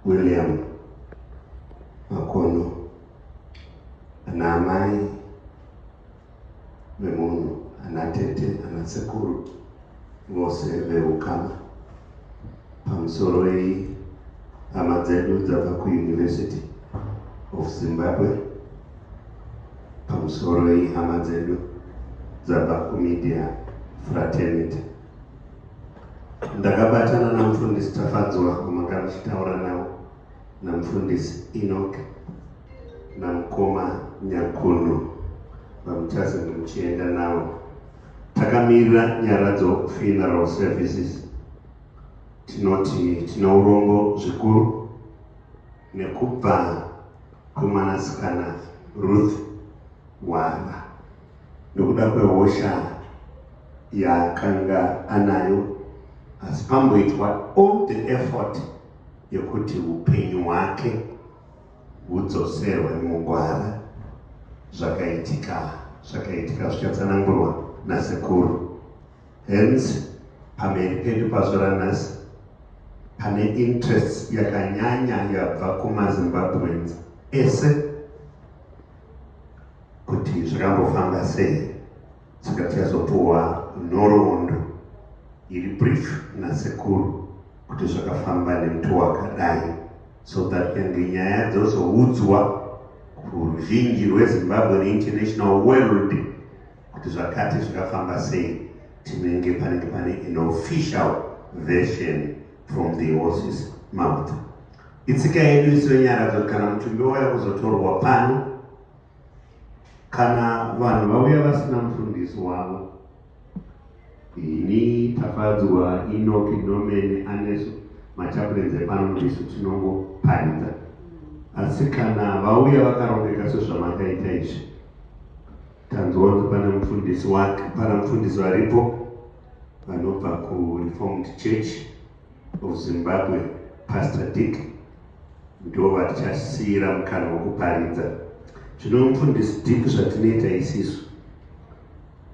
William Makono ana amai vemunhu ana tete ana sekuru vose veukama pamusoro wei hama dzedu dzabva kuuniversity of zimbabwe pamusoro wei hama dzedu dzabva kumedia fraternity ndakabatana namufundisi tafadzwa kumanga ndichitaura navo namufundisi inok namukoma nyakunhu vamutazi ndimuchienda navo takamirira nyaradzo funeral services tinoti tinourombo zvikuru nekubva kumwanasikana Ruth Wara nokuda kwehosha yaakanga anayo asi pamboitwa all the effort yekuti upenyu hwake hudzoserwe mugwara zvakaitika zvakaitika zvichatsanangurwa nasekuru Hence, pamberi pedu pazuva ranhasi pane interests yakanyanya yabva kumazimbabweans ese kuti zvakambofamba sei saka tichazopuwa nhoroondo iri brief nasekuru kuti zvakafamba nemutu wakadai so that kange nyaya dzozoudzwa kuruzhinji rwezimbabwe neinternational world kuti zvakati zvakafamba sei tinenge panenge pane an official version from the horses mouth itsika yedu iso yenyaradzo kana mutumbi wauya kuzotorwa pano kana vanhu vauya vasina mufundisi wavo ini tafadzwa inoki nomene anesu machapurenzi epano ndisu tinongoparidza asi kana vauya vakarongeka sezvamakaita izvi Tanzwa kuti pana mufundisi wake pana mufundisi varipo vanobva kuReformed Church of Zimbabwe, Pastor Dick ndo vatichasiira mukana wekuparidza. Zvino mufundisi Dick zvatinoita isisu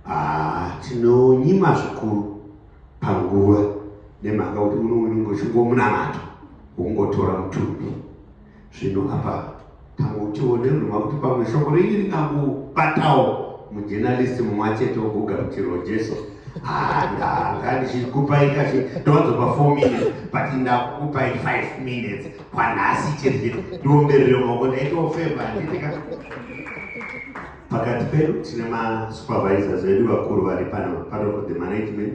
ah, tinonyima zvikuru panguva nemhaka kuti uno unenge uchingomunamato wokungotora mutumbi Zvino apa tangotiwo ndiruma kuti pamwe shoko renyu rikangobatawo mujenalist mumwe achete woguga kuti rojeso ah, ndanga ndichikupai kachi ndowadzopa four minutes but ndakukupai five minutes kwanhasi chete ndiomberere maoko ndaitofeva nditika pakati pedu tine masupervisors vedu vakuru vari pano part of the management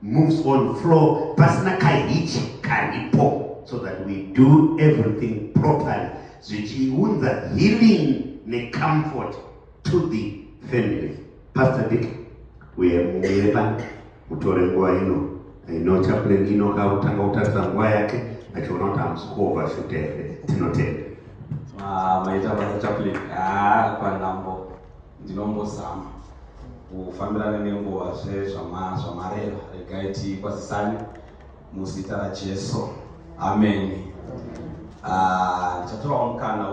moves on flow pasina kahichi karipo so that we do everything properly zvichiunza healing necomfort to the family pastor dick uye muyepa mutore nguva ino ino chaplain ino kakutanga kutarisa nguva yake achiona kuti hamusi kuova shute here tinotenda ah, maita basa chaplain ah, panhambo Ndinombozama kufambirana nenguva zve zvamareva regai tikwazisane muzita raJesu. Amen. Ah, ndichatorawo mukana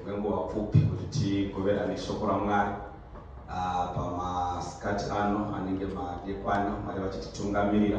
wenguva pfupi kuti tigoverane shoko raMwari ah, pamasikati ano anenge madekwana Mwari vachititungamirira.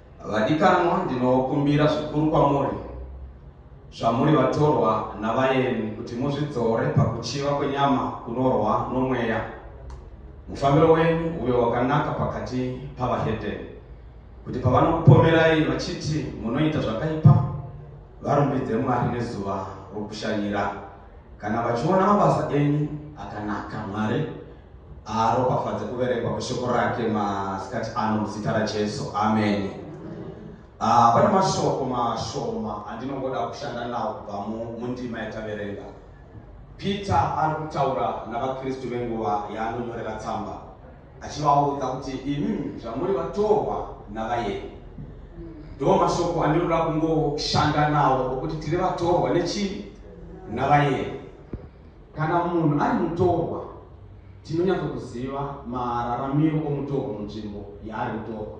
Vadikanwa, ndinokumbira zvikuru kwamuri, zvamuri vatorwa navaeni, kuti muzvidzore pakuchiva kwenyama kunorwa nomweya, mufambiro wenyu uve wakanaka pakati pavahedheni, kuti pavanokupomerai vachiti munoita zvakaipa, varumbidze Mwari nezuva rokushanyira, kana vachiona mabasa enyu akanaka. Mwari. Aropafadze kuverengwa kweshoko rake masikati ano muzita raJesu. Amen. Ah, pane mashoko mashoma andinongoda kushanda nawo kubva mundima yataverenga. Peter ari kutaura navaKristu venguva yaanonyorera tsamba achivaudza kuti imi zvamuri vatorwa navayeni. Ndiwo mashoko andinoda kungoshanda nawo okuti tiri vatorwa nechii? Navayeni. Kana munhu ari mutorwa, tinonyatso kuziva mararamiro omutorwa munzvimbo yaari mutorwa.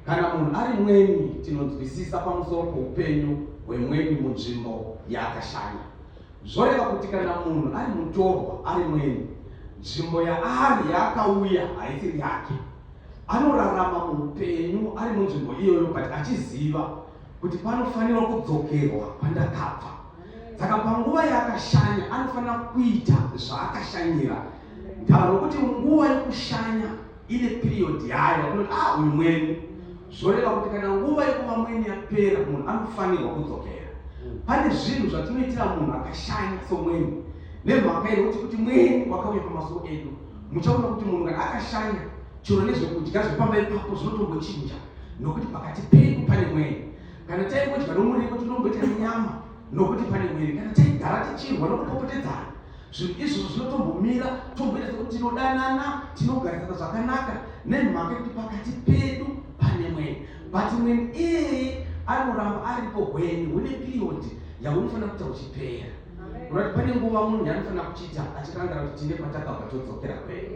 Kana munhu ari mweni, tinonzwisisa pamusoro poupenyu hwemweni munzvimbo yaakashanya. Zvoreva kuti kana munhu ari mutorwa ari mweni, nzvimbo yaari yaakauya haisiri yake. Anorarama muupenyu ari munzvimbo iyoyo but achiziva kuti panofanira kudzokerwa pandakabva. saka panguva yaakashanya anofanira kuita zvaakashanyira ntaura nokuti nguva yekushanya ine period yayo unoti ah uyu mweni zvoreva kuti kana nguva yekuva mweni yapera munhu anofanirwa kudzokera pane zvinhu zvatinoitira munhu akashanya somweni nemhaka yekuti kuti mweni wakauya pamasuko edu muchaona kuti munhu kana akashanya chero nezvekudya zvepamba ipapo zvinotombochinja nokuti pakati pedu pane mweni Kana taingodya nomuripo tinomboita nyama nokuti pane mwiri. Kana taigara tichirwa nokupopotedzana zvinhu izvozvo zvinotombomira tomboita sekuti tinodanana tinogarisana zvakanaka nemhaka yekuti pakati pedu pane mweni but mweni iyeye anoramba aripo hweni hune piriyodhi yaunofanira kuita uchipera Unoona pane nguva munhu yaanofanira kuchiita achirangira kuti tine patakabva todzokera kwedu.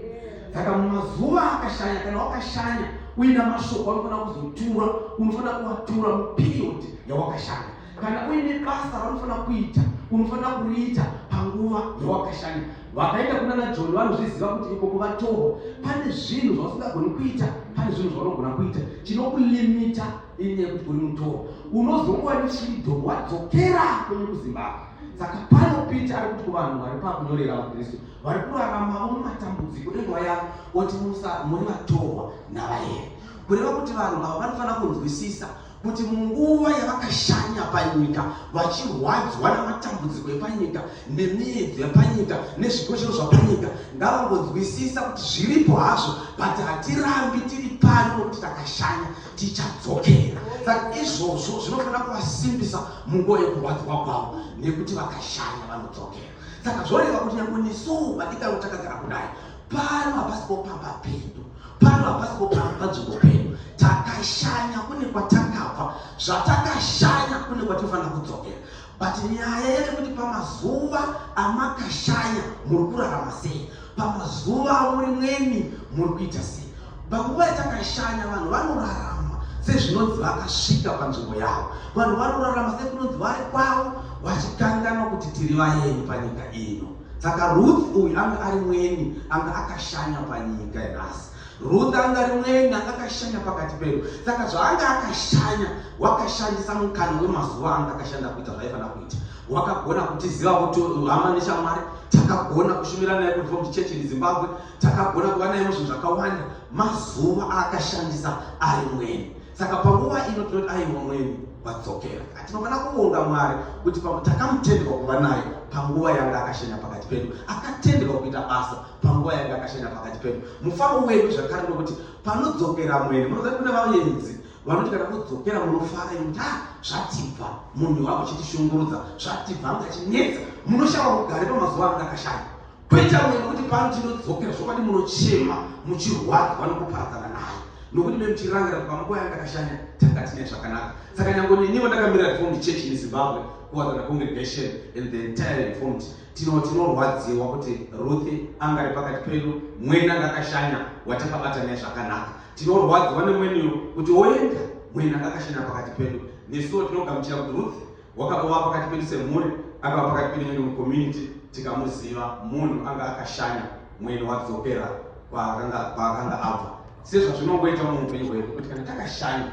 Saka mumazuva akashanya kana wakashanya uina mashoko anofanira kuzotura, unofanira kuvatura muperiod yawakashanya. Kana uine basa raunofanira kuita, unofanira kuriita panguva yawakashanya. Vakaenda kuna naJoni vanozviziva kuti iko kuvatorwa pane zvinhu zvausingagoni kuita, pane zvinhu zvaunogona kuita chinokulimita inyaya yekuti uri mutoro unozongowa nechido wadzokera kwenyu kuzimbabwe saka pano pita ari kuti kuvanhu vari pakunyorera vakristu vari kuraramavo mumatambudziko enguva yavo oti musa muri vatorwa navayeri kureva kuti vanhu avo vanofanira kunzwisisa kuti munguva yavakashanya panyika vachirwadzwa namatambudziko epanyika nemiedzo yapanyika nezvikoshero zvapanyika ngavangonzwisisa kuti zviripo hazvo but hatirambi tiri pano nokuti takashanya tichadzokera saka izvozvo zvinofanira kuvasimbisa munguva yekurwadziwa kwavo nekuti vakashanya vanodzokera saka zvoreva kuti nyange nesuwo vadikaro takagara kudai pano hapasi popamba pedu pano hapasi popamba panzvimbo pedu takashanya kune kwatakabva zvatakashanya kune kwatinofanira kudzokera But nyaya yekuti pamazuva amakashaya muri kurarama sei, pamazuva amuri mweni muri kuita sei. Panguva yatakashanya vanhu vanorarama sezvinonzi vakasvika panzvimbo yavo, vanhu vanorarama sekunonzi vari kwavo vachikanganwa kuti tiri vaeni panyika ino. Saka Ruth uyu anga ari mweni, anga akashanya panyika nhasi. Ruth anga ari mwenga anga akashanya pakati pedu saka zvaanga akashanya wakashandisa mukana wemazuva anga akashanda kuita zvaifanira kuita wakagona kutiziva kuti hama neshamwari takagona kushumira naye kureform church in zimbabwe takagona kuva naye muzvinhu zvakawanda mazuva aakashandisa ari mweni saka panguva ino tinoti aiwa mweni wadzokera tinofanira kuvonga mwari kuti takamutendwa kuva naye panguva yanga akashanya pakati pedu akatendwa kuita basa panguva yanga akashanya pakati pedu mufaro wedu zvakare nokuti panodzokera mwene munoza kune vaenzi vanoti kana kudzokera munofara inda zvatibva munhu wavo chitishungurudza zvatibva anga chinetsa munoshava kugare pamazuva anga akashanya kuita mwe nokuti pano tinodzokera zvokwadi munochema muchirwadzwa nokuparadzana naye nokuti me muchirangira kuti pamakoi anga akashanya tanga tine zvakanaka saka nyango neniwo ndakamirira reformed church in zimbabwe kuwadzana congregation and the entire reformed Tino tinorwadziwa kuti Ruth anga ari pakati pedu, mwene anga akashanya watakabata naye zvakanaka. Tinorwadziwa nemwene uyu kuti woenda, mwene anga akashanya pakati pedu. Nesuwo tinogamuchira kuti Ruth wakabova pakati pedu semhuri, akava pakati pedu nyangwe mucommunity tikamuziva. Munhu anga akashanya mwene wadzokera kwaakanga kwaakanga abva. Sezvazvinongoita muupenyu hwedu kuti kana takashanya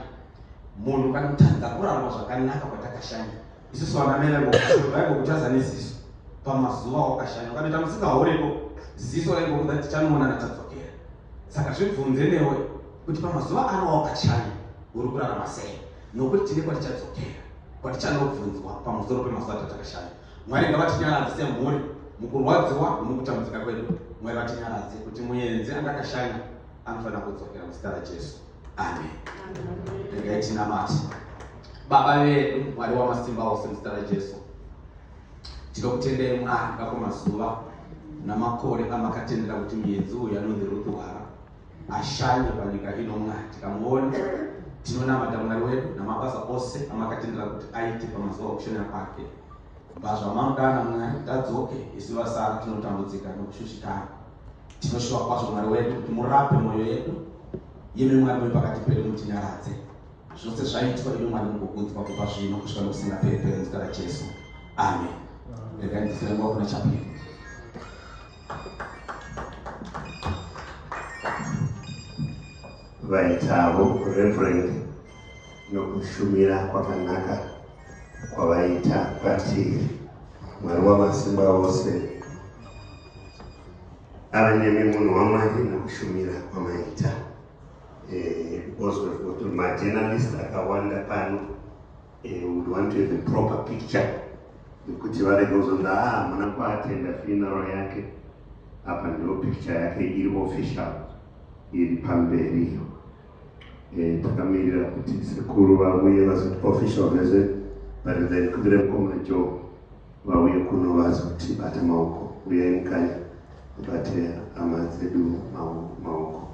munhu kana kutadza kurarama zvakanaka kwatakashanya isusu vanamene ngokushuraigo kuchaza neziso pamazuva wakashanya ukatoita musingahoreko ziso raigokuda tichanoona natadzokera saka zvibvunze newe kuti pamazuva ano wakachanya uri kurarama sei nokuti tine kwatichadzokera kwatichanobvunzwa pamusoro pemazuva tatakashanya mwari ngavatinyaradze semhuri mukurwadziwa nomukutambudzika kwedu mwari vatinyaradze kuti muenzi andakashanya anofanira kudzokera muzita rajesu amen regai tinamate baba vedu mwari wamasimba ose muzita rajesu tinokutendai mwari ngako mazuva namakore amakatendera kuti muedzi uyu anonzi rutuhara ashanye panyika ino mwari tikamuona tinonamata mwari wedu namabasa ose amakatendera kuti aite pamazuva okushanya kwake bva zvamamudana mwari tadzoke isu vasara tinotambudzika nokushushikana Tinoshuva kwazvo Mwari wedu kuti murape mwoyo yedu, imi Mwari wepakati pedu mutinyaradze. Zvose zvaitwa imi Mwari mugokudzwa kubva zvino kusvika nokusingaperi peri muzita raJesu. Amen. Regai ndifire nguva kuna chapiri. vaitavo reverend nokushumira kwakanaka kwavaita kwatiri mwari wamasimba ose ava nemi munhu wamwari nokushumira kwamaita eh, because we've got majournalist akawanda pano eh, would want to have a proper picture yekuti varege kuzonda ah, hamuna kuatenda funeral yake apa ndiyo picture yake iri official iri pamberi iyo eh, takamirira kuti sekuru vauye vazoti official visit but then kubira mukoma joe vauye kuno vazotibata maoko uyai mukanya mubate hama dzedu maoko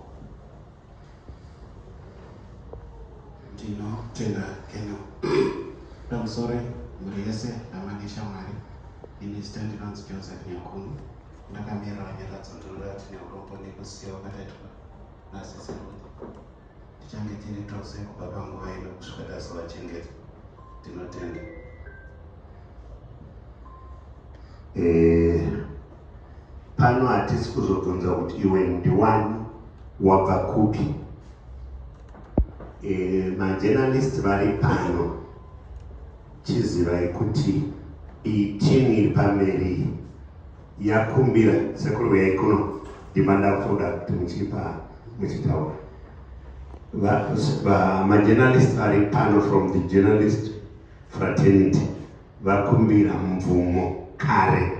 ndinotenda keno ndamusore mhuri yese hama neshamwari ini zita ndinonzi joseph nyakunu ndakamirira nyaradzo ndorati neurombo nekusiya wakataitwa nasisiroi Tichange tiri tose kubva panguva ino kusvika tazovachengeta. Tinotenda. Eh, pano hatisi kuzobvunza kuti iwe ndiwani wabva kupi eh, majenalisti vari pano chizivai kuti iyi timu iri pamberi yakumbira sekuru uyai kuno ndimanda kutoda kuti muchipa muchitaura majournalist vari pano from the journalist fraternity vakumbira mvumo kare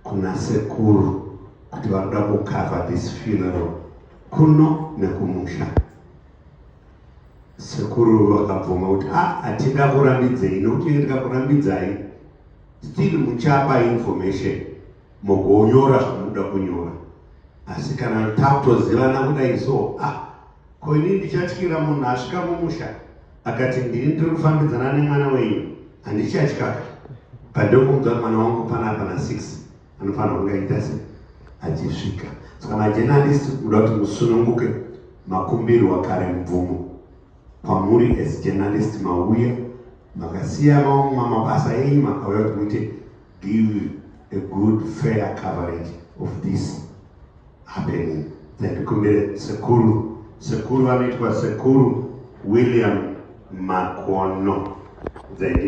kuna sekuru kuti vakuda kukava this funeral kuno nekumusha sekuru vakabvuma kuti a ah, hatingakurambidzei nokuti ndikakurambidzai Still muchapa information mogonyora zvamunoda kunyora asi kana tatozivana kudai so ah ko ini ndichatyira munhu asvika mumusha akati ndini ndiri kufambidzana nemwana wenyu handichatyaka pandokumudzwa mwana wangu pana pana six anofanira kunge aita se achisvika saka majenalisti kuda kuti musununguke makumbirwa kare mubvumo Kwamuri as journalist mauya makasiya mabasa enyu makauya kuti muite give a good fair coverage of this happening dzandikumbire sekuru sekuru vanoitwa sekuru William Makono Dzaindi